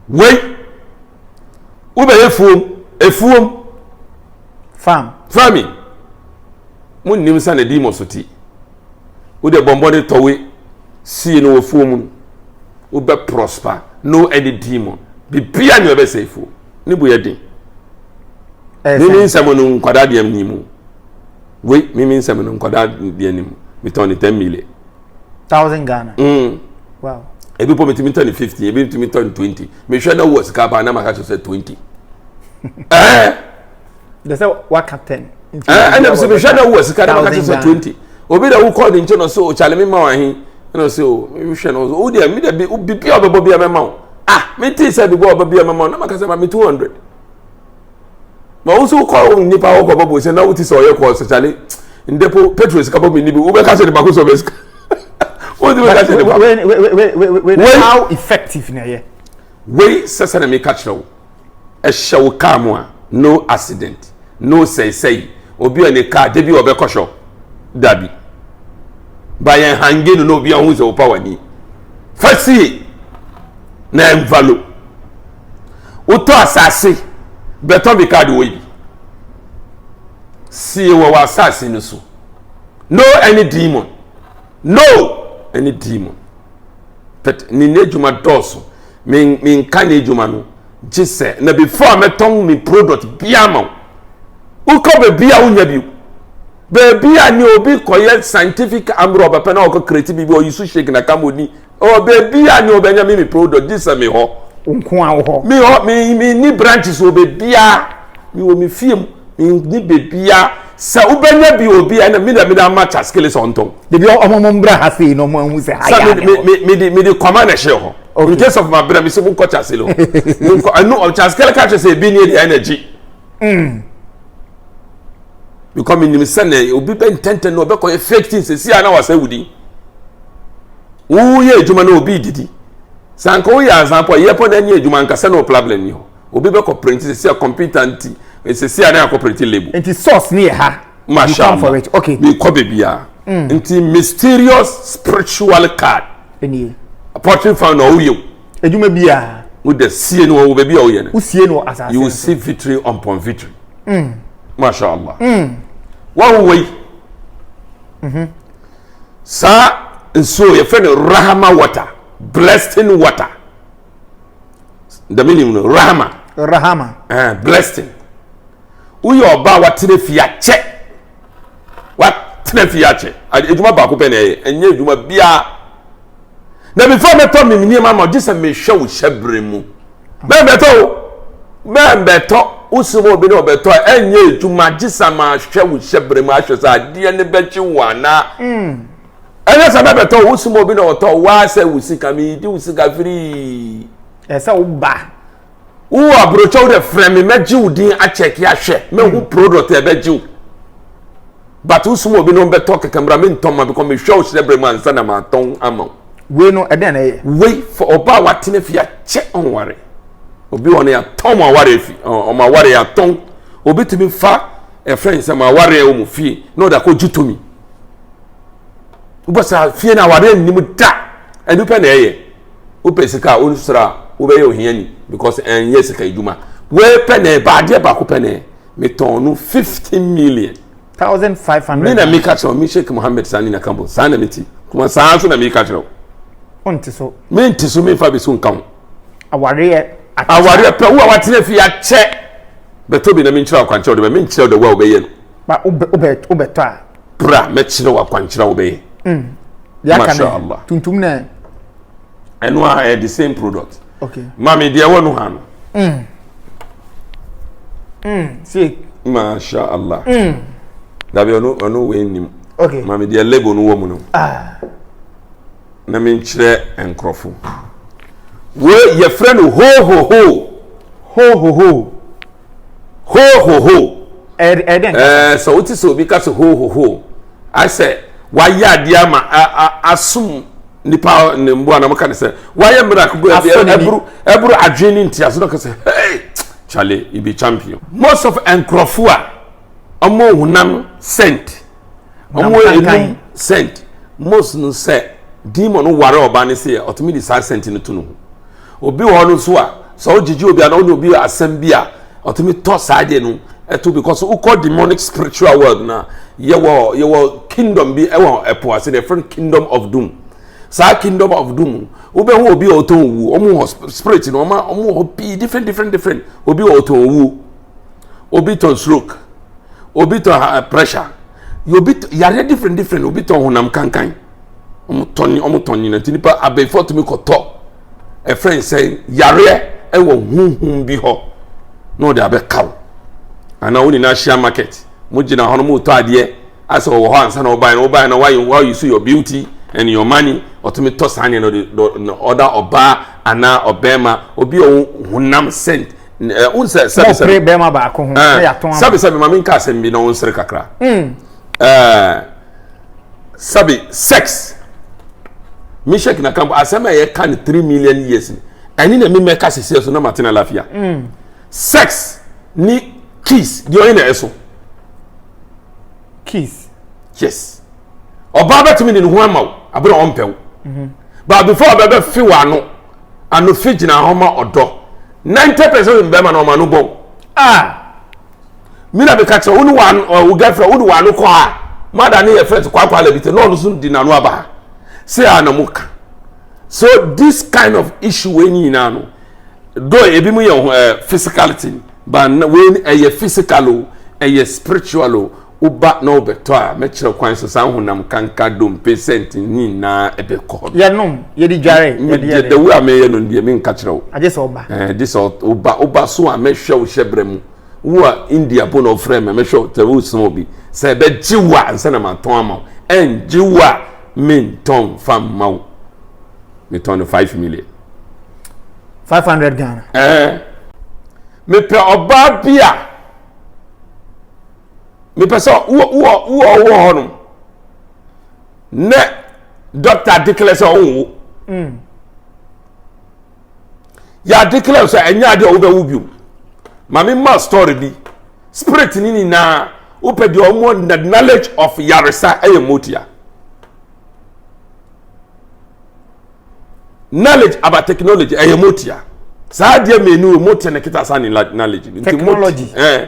wei wobɛyɛ fuom efuom farm farming mo nim sɛ na di mo so ti. Wo deɛ bɔ mmɔden tɔ wei sie no wɔ fuo mu no wobɛ prosper no any demon bibia ne ɔbɛsɛ fuo ne bu yɛ den mimi nsɛm no nkwadaa deɛ ni mu wei mimi nsɛm no nkwadaa deɛ ni mu metɔn ne ten million thousand Ghana mm. wow ebi pɔ metumi tɔ ne fifteen ebi metumi tɔ ne twenty mehwɛ na wɔ sika paa na maka kyerɛ sɛ twenty ɛɛ. de sɛ waka ten. ɛna sɛ mehwɛ na wowɔ sika na maka kyɛ sɛ twenty obi na wokɔɔ ne nkyɛ no sɛ ɔkyale oh, me ma wahe ɛna sɛ o mehwɛ no wo deɛ me dabi biribi a ɔbɛbɔ bia mɛma wo ah metee sɛ biribi a ɔbɛ bia mɛma wo na maka sɛ ma me two hundred ma wo nso wokɔ nnipa hɔ kɔbɔ bɔ sɛ na wote sɛ ɔyɛ kɔɔ sɛ kyale ndepo petro sika bɔ menni bi wobɛka sɛ ne bako sɛ ɔbɛ sika wode bɛka sɛ ne bako how effective na ɛyɛ wei sɛ sɛ na meka kyerɛ wo ɛhyɛ wo kaa mu a no accident no sɛisɛi obi a ne kaa da bi ɔbɛkɔ shop da bi ba yɛn hange no na obi ahu sɛ wopa w'ani fa sie na ɛmfa lo wotɔ asase bɛtɔ bi kaa de wɔ bi sie wɔ wɔ asase no so no any demon no any demon but ne n'adwuma dɔɔso me me nka nyɛ adwuma no gye sɛ na before a mɛtɔn me product biara ma wo wokɔ baabi a wonya bi baabi a ne obi kɔyɛ scientific ambrɛ ɔbɛpɛ na ɔkɔ kreti biribi ɔyi so shake na kam ɔni ɔ baabi a ne ɔbɛnya me me product gye sɛ me hɔ nko a wo hɔ me hɔ me me ni branches wɔ baabi a me wɔ me fie mu me ni baabi a sɛ wobɛnya bi obi ɛna me na me na ama chaskele sɛ ɔntɔn baabi a ɔmo mbra ha sei na ɔmo ahu sɛ ha yɛ adeɛ sɛ me de me de kɔma na ɛhyɛ hɔ Okay. In case of my brother, me say munko chase no. Munko, I know chase kele ka chase be near the energy. Mm. Because me nim say na obi be ntente no be koye fake things say na wasa wudi. Wo ye adwuma na obi didi. Sanko ye azanpo ye po na ni adwuma nkasa no problem ni ho. Obi bɛ kɔ print sisi a computer nti sisi a ne akɔ print label. Nti source ni yɛ ha. Masha Allah. You come for it. Okay. Mi kɔ baby a. Mm. Nti mysterious spiritual card. Eni. Poetry fan na ɔwɔ yɛ o. Edwuma bi a. Wo de sie no wɔ baabi a ɔyɛ no. Wo sie no asase. You see victory upon victory. Mm. Masha Allah. Mm. Wa wo wei. Mhm. Mm saa nsuo yɛfrɛ no rahama water blessing water dɛm nim no rahama rahama eh, blessing woyɛ ɔba a watena fie akyɛ watena fie akyɛ adwuma baako pɛ na ɛyɛ ɛnyɛ adwuma biara na before mɛtɔ me nneɛma ma ɔgye sɛ mehwɛ wo hyɛbrɛ mu bɛn bɛtɔ o bɛn bɛtɔ wosi mu obi na ɔbɛtɔ a ɛnyɛ adwuma gye sɛ mahwɛ wo hyɛbrɛ mu ahwɛ sɛ adeɛ no bɛkye wo anaa mm. ɛnyɛ sɛ mɛbɛtɔ wo soma obi na ɔtɔ waa sɛ wo sika meyidi wo sika firii ɛsɛ wo ba wo aburokyɛw dɛ frɛ me mɛgye wo din akyɛke ahwɛ mɛhu hmm. product ɛbɛgye wo but wo soma obi na ɔbɛtɔ kɛkɛ mbra mentɔ ma bikɔ mehwɛ wo hyerɛ berɛ mu ansa na matɔn ama wo wei no ɛdɛn na ɛyɛ wei fa ɔbaa watena fi akyɛ ɔnware obi wɔ no yɛatɔn mo aware afi ɔmo aware yɛatɔn obi tumi fa ɛfrɛ nsɛm aware wɔ mo fie na ɔde akɔgye tomi wobɔ saa fie no awareɛ nnim da ɛno pɛ na ɛyɛ wopɛ sika a wonsra wobɛyɛ ohiani because ɛnyɛ sika adwuma wei pɛ na ɛba adeɛ baako pɛ na ɛyɛ metɔn no fifty million thousand five hundred ne na meka kyerɛ me sheik mohammed saa ne na kambo saa na meti kuma saa nso na meka kyerɛ ɔnte so mente so memfa bi so nka ho awareɛ awareɛ pɛ wo a watena fie akyɛ bɛtɔ bi na menkyerɛ akwankyerɛ wode bɛ menkyerɛ wode wo a wobɛyɛ no ba wo bɛ wo bɛ wo bɛ tɔ a. bra mɛkyerɛ wo akwankyerɛ a wobɛyɛ. Mm. deɛ aka Masha no Allah. tuntum na ɛno a ɛyɛ the same product okay maame deɛ ɛwɔ no ha no mm. Mm. see Masha Allah. mm. dabi ɔno ɔno wei nim okay maame deɛ label no wɔ mu no ah. na menkyerɛ nkurɔfo wei yɛfrɛ no hohoho hohoho Hoohoho. Ɛyɛ ɛyɛ dɛn kasa? Ɛɛ sɛ wote sɛ obi ka sɛ hoohoho asɛ wayɛ adeɛ ama asom nipa ne mmoa na wɔka ne sɛ wayɛ miracle bi ɛburu ɛburu adwene ne ntiaso na wɔka sɛ hey chale ibi champion. Most of nkurɔfo a wɔn honam sent. wɔn wɔ enum sent most no sɛ demon no ware ɔbaa no se yɛ ɔtumi de saa sent no to no ho obi wɔ hɔ no nso a sɛ ɔgyegye obi a na ɔne obi asɛm bi a ɔtumi tɔ saa deɛ no ɛto because wokɔ demonic spiritual world na yɛwɔ yɛwɔ kingdom bi ɛwɔ ɛpo ase deɛ friend kingdom of doom saa kingdom of doom wobɛhu obi a ɔtɔn owu wɔn wɔ spirit no wɔn a wɔn wɔ hɔ pii different different different obi a ɔtɔn owu. obi tɔ stroke obi tɔ eh, pressure obi tɔ yareɛ different different obi tɔ honam kankan wɔn tɔ ne wɔn tɔ nyina nti nipa abɛɛfo tumi kɔ tɔ ɛfɛn sɛ yareɛ ɛwɔ huhum bi hɔ na ɔde abɛka wo anaa wɔn nyinaa ahyia market mo gyina hɔ no mo tɔ adeɛ asɛ ɔwɔ hɔ ansa na ɔbaa na ɔbaa na wayɛ wayɛ so your beauty and your money ɔtumi tɔ saa nneɛma no de ɔda ɔbaa anaa ɔbɛrima obi a ɔwɔ honam scent. ɛɛ n sɛ sɛbi sɛbi mɔpere bɛrima baako ho na yɛatɔn ama sɛbi sɛbi maame nka asɛm bi na wɔn nsere kakra hmm. ɛɛ sɛbi sex mishek na kambo asɛm a yɛka no three million years ɛne na mi mɛka sisi ɛso na ma tena lafiya hmm. sex ni kiss deɛ ɔyɛ na ɛso kiss yes. ɔbaa bɛtumi de ne ho ama wo abere a ɔmpɛ wo mhm. but before ɔbɛbɛ fi wɔ ano ano fi gyina hɔ ma ɔdɔ ninety percent of bɛrima na ɔma no bɔ ah mi na mi ka kyerɛ wo ne wa wo girlfriend wo ne wa no kɔ a mada ne yɛ friend kwakwa alabite na ɔno so di n'ano aba ha se a na mo ka so this kind of issue wei nyinaa no do ebi mu yɛ eh, physicality but wei ɛyɛ physical o ɛyɛ spiritual o. woba na wɔbɛtɔ a, mɛkyerɛ kwan sɛ saa honam kanka, dompe, sɛnt ne nyinaa bɛkɔ hɔ. Yɛnom, yɛde dware, yɛde yɛ dɛ. Dawuro a meyɛ no deɛ, menka kyerɛ wo. Agye sɛ woba. Ɛɛ, gye sɛ woba. Woba so a, mɛhwɛ wo hyɛbrɛ mu. Wo a India mpo na wɔfrɛɛ me a, mɛhwɛ wo tɛ, woresoma obi. Sɛ ɛbɛgye wo a, ansa na matɔn ama wo. Ɛngye wo a, mentɔn mfa mma wo. Metɔn no five million. Five hundred Ghana. Ɛɛ, mepɛ ɔbaa bi a. mepɛ sɛ wowɔ hɔ nom ne dɔkta declare sɛ ɔnwo mm. yɛ declare sɛ ɛnyɛ adeɛ a wobɛwo bio ma mema story bi spirit ni ni na wopɛ deɛ ɔmo the knowledge of yaresa ɛyɛ motia knowledge about technology ɛyɛ motia saa adeɛ mmienu mo te ne kita saa ne knowledge nti mo eh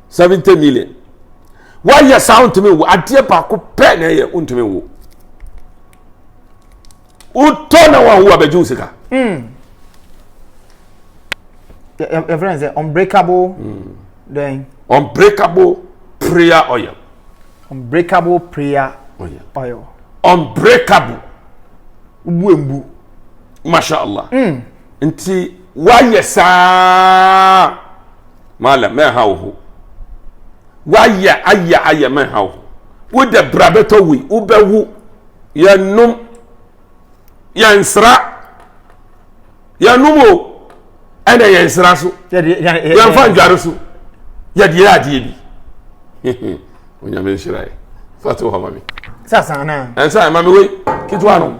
seventy million woayɛ saa wontumi nwo adeɛ baako pɛ na ɛyɛ wontumi nwo wotɔ na wawo abɛgye wo sika hmm. your friend say unbreakable mm. then unbreakable prayer oil unbreakable prayer oil oil unbreakable wuembu masha allah mm. nti wayɛ saa Maala, mɛnha wo ho. Woayɛ ayɛ ayɛ mɛnha wo ho. Wode bra bɛtɔ wei, wobɛwu. Yɛnnom, yɛnsra, yɛnnom o, ɛna yɛnsra so, yɛmfa ndware so, yɛde yɛ adeɛ bi. Onyame nhyira yɛ. Fato hɔ ma me. Sasa na. Ɛnsa ma me wei, ketewa no.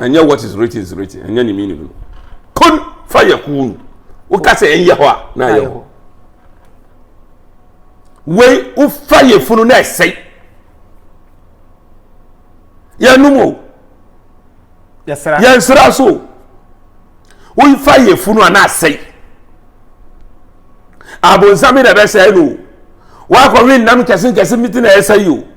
ɛnyɛ what is written is written ɛnyɛ ne meaning no kun fa yɛ kun woka sɛ ɛnyɛ hɔ a na ayɛ hɔ wei wofa yɛ funu na ɛsɛe yɛnum o yɛnsra so o wofa yɛ funu a na asɛe abonsam bi na ɛbɛsɛe no o wakɔwe nnam nkɛse nkɛse bi ti na ɛsɛe o.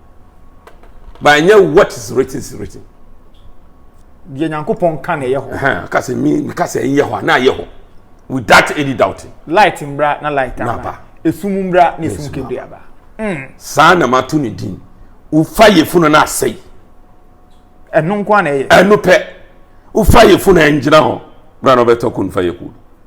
but ɛnyɛ what is written is written. deɛ nyankopɔn ka na ɛyɛ hɔ. kasi mi mi kasi ɛyɛ hɔ na ɛyɛ hɔ without any doubting. light mbra na light aba esum mbra na esum kebiri aba. Hmm. saa na ma to ne din wofa yɛ funu na asɛyi. ɛno nko na ɛyɛ. ɛno pɛ wofa yɛ funu ɛngyina hɔ bra na ɔbɛtɔ kun fa yɛ kun.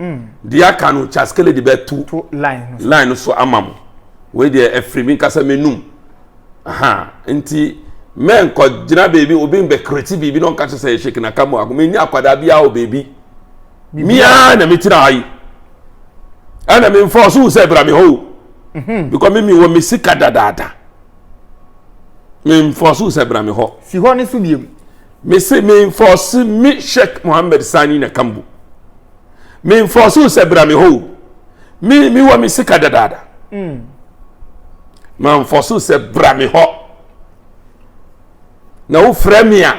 mm. deɛ aka no kyaskele de bɛto line no so ama mo wei deɛ ɛfiri mi nkasa menum aha nti mɛnkɔ gyina beebi obi mbɛkreti biribi na ɔnka kyerɛ sɛ ɛhyɛ kinaka mu ako menni akwadaa biara wɔ beebi miaa na metena ha yi ɛna memfa ɔso sɛ bra me hɔ mhm. because me mewɔ me sika dadaada memfa ɔso sɛ bra me hɔ si hɔ ne so biem mese menfɔɔse me sheik mohammed sani na kambu menfɔɔse wo sɛ bra me hɔ o me mewɔ me sika dadaada mm. manfɔɔse wo sɛ bra me hɔ na wofrɛ me a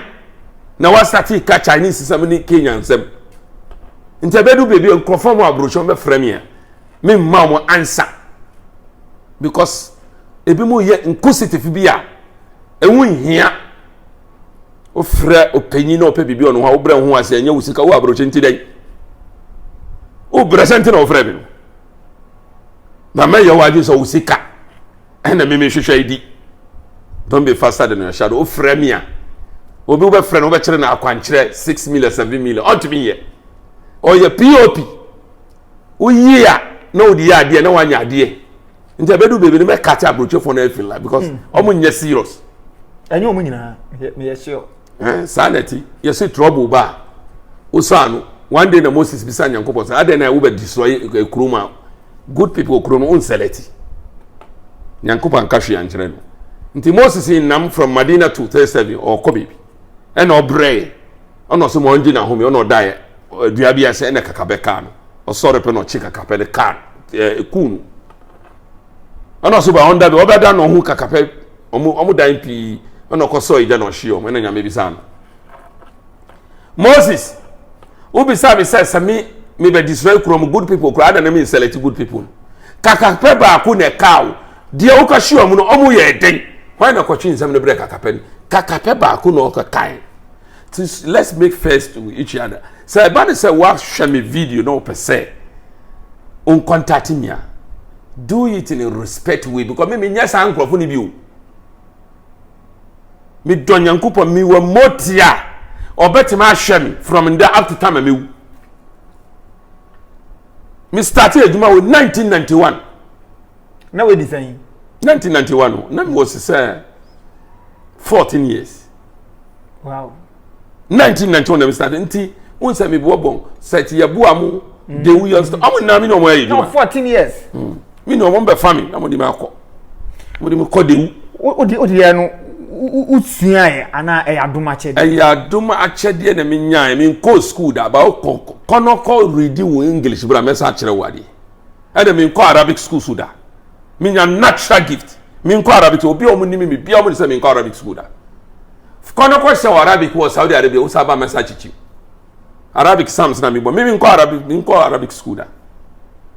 na wasate ka chinese nsɛm ne kenya nsɛm nti ɛbɛdu baabi a nkurɔfoɔ mu aburohyɛn bɛfrɛ me a memma wɔn ansa because ebi mu yɛ nkositifo bi a ɛho nhia wofrɛ ɔpanyin na ɔpɛ biribi ɔno ho a wobrɛ ho ase ɛnyɛ wo sika wo aburokye nti dɛn wobrɛ sɛ nti na wofrɛ me no na mɛyɛ wo adwene sɛ wo sika ɛna meme hwehwɛ adi don't be faster than your shadow wofrɛ me a obi wobɛfrɛ no wobɛkyerɛ no akwankyerɛ six million seven million ɔntumi yɛ ɔyɛ pop woyie a na wode yɛ adeɛ na woanya adeɛ nti ɛbɛdu baabi no mɛka kyɛ aburokyefoɔ no afi la because hmm. ɔmo nyɛ serious. ɛnyɛ ɔmo nyinaa meyɛ sure. ɛn saa na ti yɛsi trouble ba a wosaa no one day na moses bisa nyankopɔn sɛ adɛn na ɛwo bɛ destroy ekuro mu a good people okuro no nsɛlɛ ti nyankopɔn nka hwee ankyerɛ no nti moses nam from madina to thirty seven ɔkɔ baabi. ɛna ɔbrɛe ɛna ɔsɛ ma ɔngye n'ahome ɛna ɔdaeɛ dua bi ase ɛna kakapɛ kaa no ɔsɔre pɛ na ɔkye kakapɛ no kaa ɛɛ kuu no ɛna ɔsɛ ba ɔnda bi ɔbɛda na ɔho kakapɛ ɔmo ɔmo dan pii ɛna ɔkɔ sɔɔ egya na ɔhye ɔmo ɛna nyame bisa no moses wobisa mi sɛ sɛ mi mi bɛ destroy kurom good people koraa ɛna mi nsɛlɛti good people kakapɛ baako na ɛkaa o. deɛ woka hyia mu no ɔmo yɛ den hwan na kɔtwe nsɛm no brɛ kakapɛ no kakapɛ baako na ɔka kan ti let's make first to each other sɛ ɛba ne sɛ wahwɛ me video na ɔpɛ sɛ nkontate mi a do it in a respect way because me me nyɛ saa nkorɔfo no bi o me dɔ nyankopɔn me wɔ mmotia ɔbɛtumi ahwɛ me from nda up to time a mewu me start adwuma wɔ 1991 na wadi sɛn 1991 no na mewɔ se sɛ 14 years wow 1991 na me start nti wo nsɛ meboɔ bɔn sɛ ti yɛboa mo de wo yɛ ɔmo nna me ne ɔmo ayɛ adwuma 14 years mm. mi na wɔn bɛfa mi na wɔn de mi akɔ wɔn de mi kɔ dewu. o de o de yɛ no o sua yɛ ana ɛyɛ adum akyɛdeɛ. ɛyɛ adum akyɛdeɛ na mi nya yɛ mi nkɔ sukuu da ba kɔ kɔnɔ kɔ ridi wo english bra mɛ sa akyerɛ wo adeɛ ɛna mi nkɔ arabic sukuu so da mi nya natural gift mi nkɔ arabic obi a wɔn ni mi mi bia wɔn ni sɛ mi nkɔ arabic sukuu da kɔnɔ kɔ hyɛ wɔ arabic wɔ saudi arabia o sa ba mɛ sa kyikyi arabic sams na mi bɔ mi mi nkɔ arabic mi nkɔ arabic sukuu da.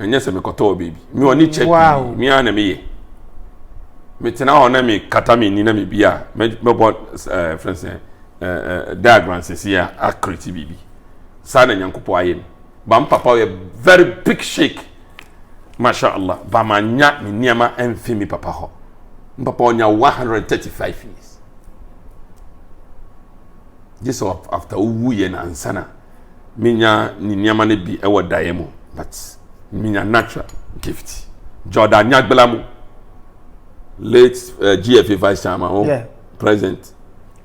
ɛnyɛ sɛ mekɔtɔɔ baabi me ɔne kyɛ pii me ara na meyɛ metena hɔ na mekata me ni na mebi a mɛbɔ eh, frɛ sɛ eh, eh, diagram sɛsi a akreti biribi saa na nyankopɔn ayɛ me ba mpapa yɛ very big shake masha allah ba manya me nneɛma amfi me papa hɔ mpapa ɔnya 135 years gye sɛ after wowu yɛ no ansana menya ne nneɛma no bi wɔ daeɛ mu but menya natural gift Jordan Nyagbela mu late uh, eh, GFA vice chairman o oh, yeah. president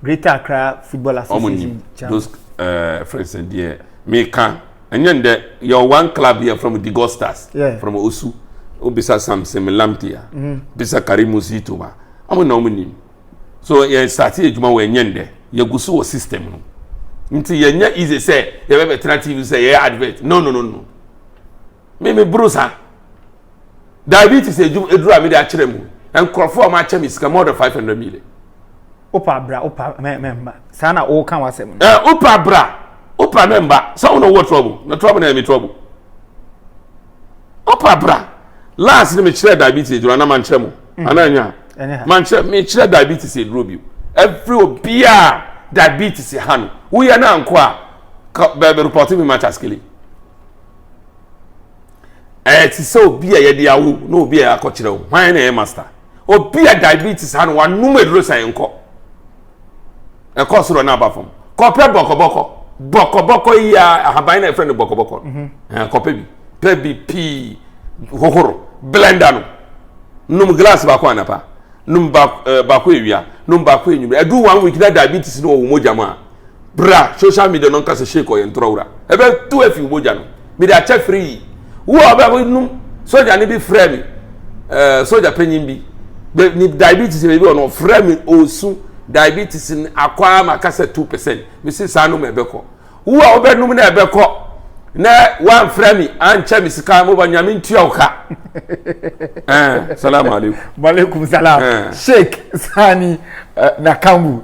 Greater Accra Football Association chairman those uh, friends and deɛ meka ɛnyɛ ndɛ yɛ one club here from the gold stars yeah. from osu obisa samson melamtia mm -hmm. bisa karimu situma ɔmo na ɔmo nim so yɛ starte adwuma wɔ ɛnyɛ ndɛ yɛgu so wɔ system no nti yɛnyɛ easy sɛ yɛbɛbɛtena tv sɛ yɛyɛ advert no no no no me me buru saa diabetes adwuma aduru a mede akyerɛ mu nkurɔfoɔ a wɔakyɛ me sika more than five hundred million wopa bra wopa mɛmba saa na woka w'asɛm no eh, wopa bra wopa mɛmba sɛ wo na wowɔ trouble na trouble na ɛmi trouble wopa bra last ne mekyerɛ diabetes adwuma na mankyerɛ mu Mm. Ana nya. Man kyerɛ me kyerɛ diabetes eduro bi. Every obia diabetes ha no. Wo yɛ na anko a bɛ report me ma taskele. Eh ti sɛ obi a yɛde awo na obi a akɔkyerɛ wo. Hwan na yɛ master? Obi a diabetes ha no wanum eduro sɛ nkɔ. ɛkɔ soro na aba fam kɔpɛ bɔkɔbɔkɔ bɔkɔbɔkɔ yi a ahaban na ɛfrɛ no bɔkɔbɔkɔ mhm. eh, kɔpɛ bi pɛ bi pii hohoro blender no num glass baako anapa num eh, baako ewia num baako enyimire ɛdu one week na diabetes no wɔ wɔn mogya mu a Bra, social media no nka sɛ Sheik ɔyɛ ntorɔwura. Ɛbɛtu afi wo mogya no. Mede akyɛ firi yi. Wo a ɔbɛ hɔ num soja ne bi frɛ me ɛɛ eh, soja panyin bi. Bɛ ne diabetes baabi wɔ no ɔfrɛ me osu diabetes ne akɔ a ma kasa two percent. Mesi saa nom ɛbɛkɔ. Wo a ɔbɛ num na ɛbɛkɔ na wamfrɛ me ankyɛ me sika mo ba nyame ntua wo ka. Eh, salamu alaikum. Malaikum salam. Eh. Sheik Sani uh, eh, Nakambu.